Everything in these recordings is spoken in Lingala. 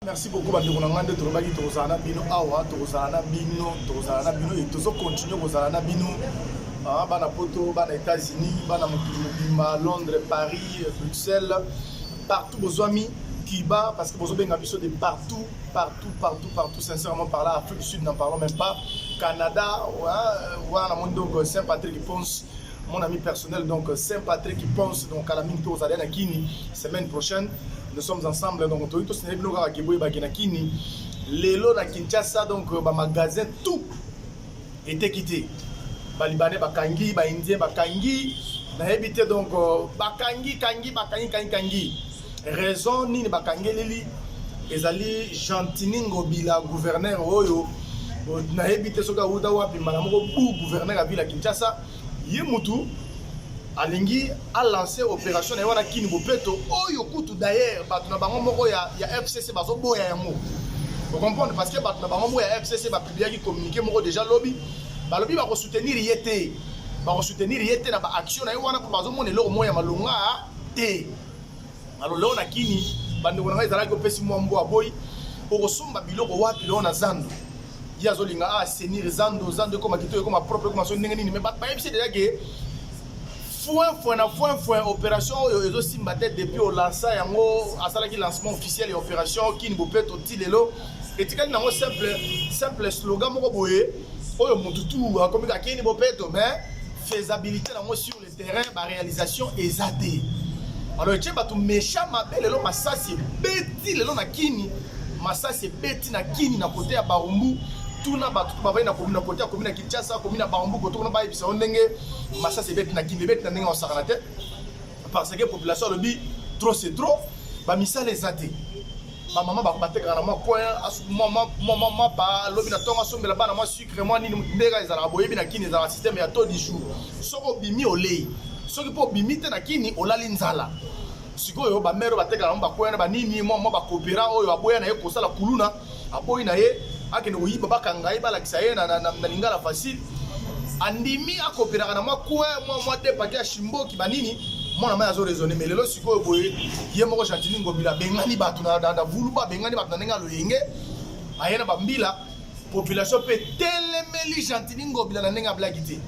merci beaucoup bandeko na ngai nde tolobaki tokozala na bino awa tokozala na bino tokozala na bino tozo continue kozala na bino ah, bana poto bana états-unis bana mokili mobimba londres paris bruxelles partout bozwami cuba parce que bozobenga biso de partout partout partout partout sincèrement par là afrique du sud n'en parlons même pas canada wana namoni donc euh, saint patrick ponce mon ami personnel donc euh, saint patrick ponce donc à la mingi tozali na kini semaine prochaine nous sommes ensemble donc toyi tosende bino kaka ke boyebaki na kini lelo na kinshasa donc euh, bamagasin tout eteki te balibane bakangi baindien bakangi nayebi te donc euh, bakangi kangi bakangi kangi kangi raison nini bakangeleli ezali gentini ngobila gouverneur oyo nayebi te soki awuta wapi mbala moko bu gouverneur ya ville ya kinshasa ye mutu alingi alanse operation na ye wana kini bopeto oyo kutu dayer bato na bango moko ya, ya fcc bazoboya yango okomprendre parce que bato na bango moko ya fcc bapubliaki communiqué moko déjà lobi balobi bakosoutenir ye te bakosoutenir ye te na baaction na ye wana mpo bazomona eloko moko ya malonga te na loleo na kini bandeko na ngai ezalaki opesi mwa mbo aboyi okosomba biloko wapi loo na zando ye azolinga a ah, senir zando zando ekoma kito ekoma propre ekoma so ndenge nini me bayebisi deja ke foin foin na foin foin opération oyo ezosimba te depuis olansa yango asalaki lancement officiel ya opération kini bopeto ti lelo etikali nango simple simple slogan moko boye oyo motu tu akomi kakini bopeto mais faisabilité nango sur terrain ba réalisation eza te alors etie bato mesha mabe lelo masasi ebeti lelo na kini masasi ebeti na kini na kote ya barumbu tuna bato to bavai na komi na kote ya komi na kinshasa komi na barumbu koto kuna bayebisa yo ndenge masasi ebeti na kini ebeti na ndenge osakana te parce que population alobi trop c'est trop bamisala eza te bamama batekaka na mwa coin mwa mapa lobi na ntongo asombela bana mwasi Vraiment nini mbega ezalaka boyebi na kini ezalaka système ya taux du jour. Soki obimi olei, soki mpo obimi te na kini olali nzala. Sikoyo ba mère batekaka yango bakwea na banini mwa mwa bakopera oyo aboya na ye kosala kuluna aboyi na ye akende koyiba bakanga ye balakisa ye na, na, na, na lingala facile andimi akoperaka na mwa kue mwa mwa depake ya shimboki banini mwana mai azo raisonne mais lelo sikoyo boye ye moko gentini ngobila abengani bato na, na, na vuluba abengani bato na ndenge ya loyenge aye na bambila population mpe etelemeli gentini ngobila na ndenge ya blagi te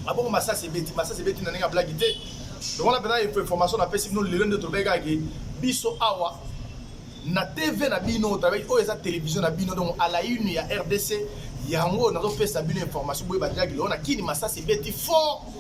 abongo masasi ebeti masasi ebeti na ndenge ya blagi te lokola mpenza information napesi bino lelo nde tolobaki kaka ke biso awa na tv na bino travail oyo eza televizio na bino donc à la une ya rdc yango nazopesa bino information boyeba jaki lelo na kini masasi ebeti fort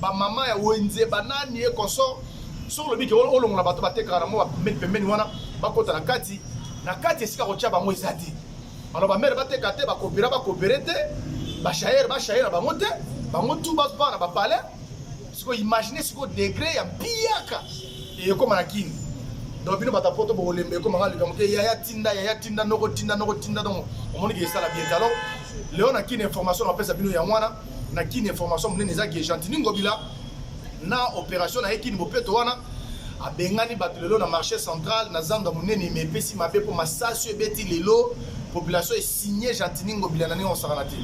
ba mama ya wenze ba nani ye consort soki olobi ke olongola bato batekaka na mwa bapembeni pembeni wana bakota na kati na kati esika kotya bango eza te alors bamere bateka te bakopera bakopere te bashaere bashaere na bango te bango tu bazwa na bapale sikoyo imagine sikoyo degre ya mpiyaka ekoma na kini donc bino bato ya poto bokolemba ekoma nga likambo ke yaya tinda yaya tinda noko tinda noko tinda donc omoni ke esala bien te alors leo na kini information napesa bino yango wana na kini information monene eza ke gentini ngobila na opération na ye kini bopeto wana abengani bato lelo na marché central na zando ya monene me epesi mabe mpo masasi ebeti lelo population esigne gentini ngobila na ndenge osakana te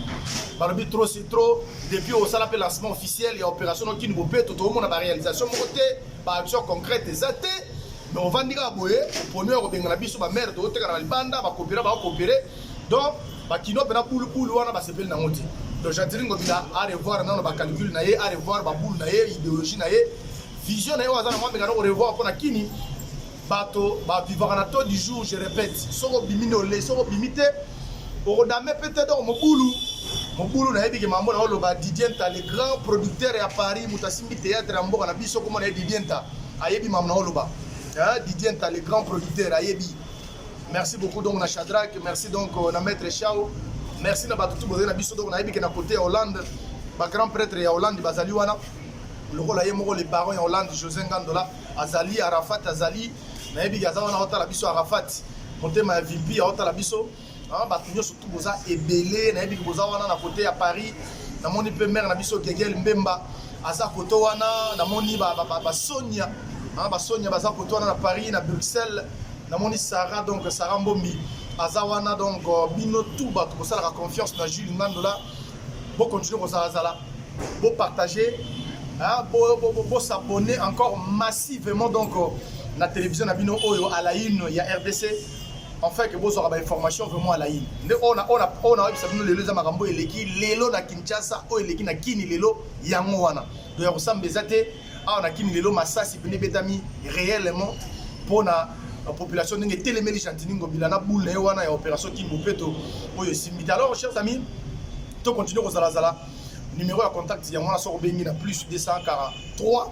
balobi trop c'est trop depuis osala mpe lancement officiel ya opération no kini bopeto tokomona baréalisation moko te baaction concrète eza te mais ovandi kaka boye oponi ya kobengana biso bamare tokotekana na libanda bakopera bakopere donc bakino mpena bulubulu wana basepeli nango te donc jadiri ngobila arevoir nano bacalcule na ye arevoir babulu na ye idéologie na ye vision na ye oyo aza na mwa mekana korevoir mpo na kini bato bavivaka na taux du jour je répète soki obimi nde olei soki obimi te okodame mpe te donc mobulu mobulu nayebi ke mambo na oloba didienta le grand producteur ya paris moto asimbi théâtre ya mboka na biso komona ye didienta ayebi mambo na oloba didienta le grand producteur ayebi Merci beaucoup donc na Shadrach, merci donc euh, na maître Chao. Merci na batu tout bozali na biso donc na yebike na côté ya Hollande, ba grand prêtre ya Hollande bazali wana. Lokola ye moko le baron ya Hollande José Ngandola azali Arafat azali na yebike aza wana otala biso Arafat motema ya VIP otala biso Hein, bato nyonso tu boza ebele nayebi ke boza wana na kote ya paris namoni mpe mare na biso gegel mbemba aza koto wana namoni basonia ba, ba, basonia baza koto wana na paris na bruxelles namoni sara donc sara mbombi aza wana donc euh, bino tu bato bosalaka confiance na jules ngandola bokontinue kozalazala bopartage bosabonne bo, bo, bo encore massivement donc euh, na télévision na bino oyo à la une ya rdc enfin que bozwaka ba information vraiment alaini nde oyo nayebisa bino lelo eza makambo oyo eleki lelo na kinshasa oyo eleki na kini lelo yango wana to ya kosamba eza te awa na kini lelo masasi pene ebetami réellement mpo na population ndenge etelemeli gentini ngobila na boule na ye wana ya opération kimbopeto oyo esimbi te alors chers amis to continue kozalazala numéro ya contact yango wana soki obengi na plus 243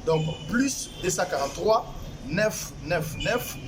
donc plus 243 999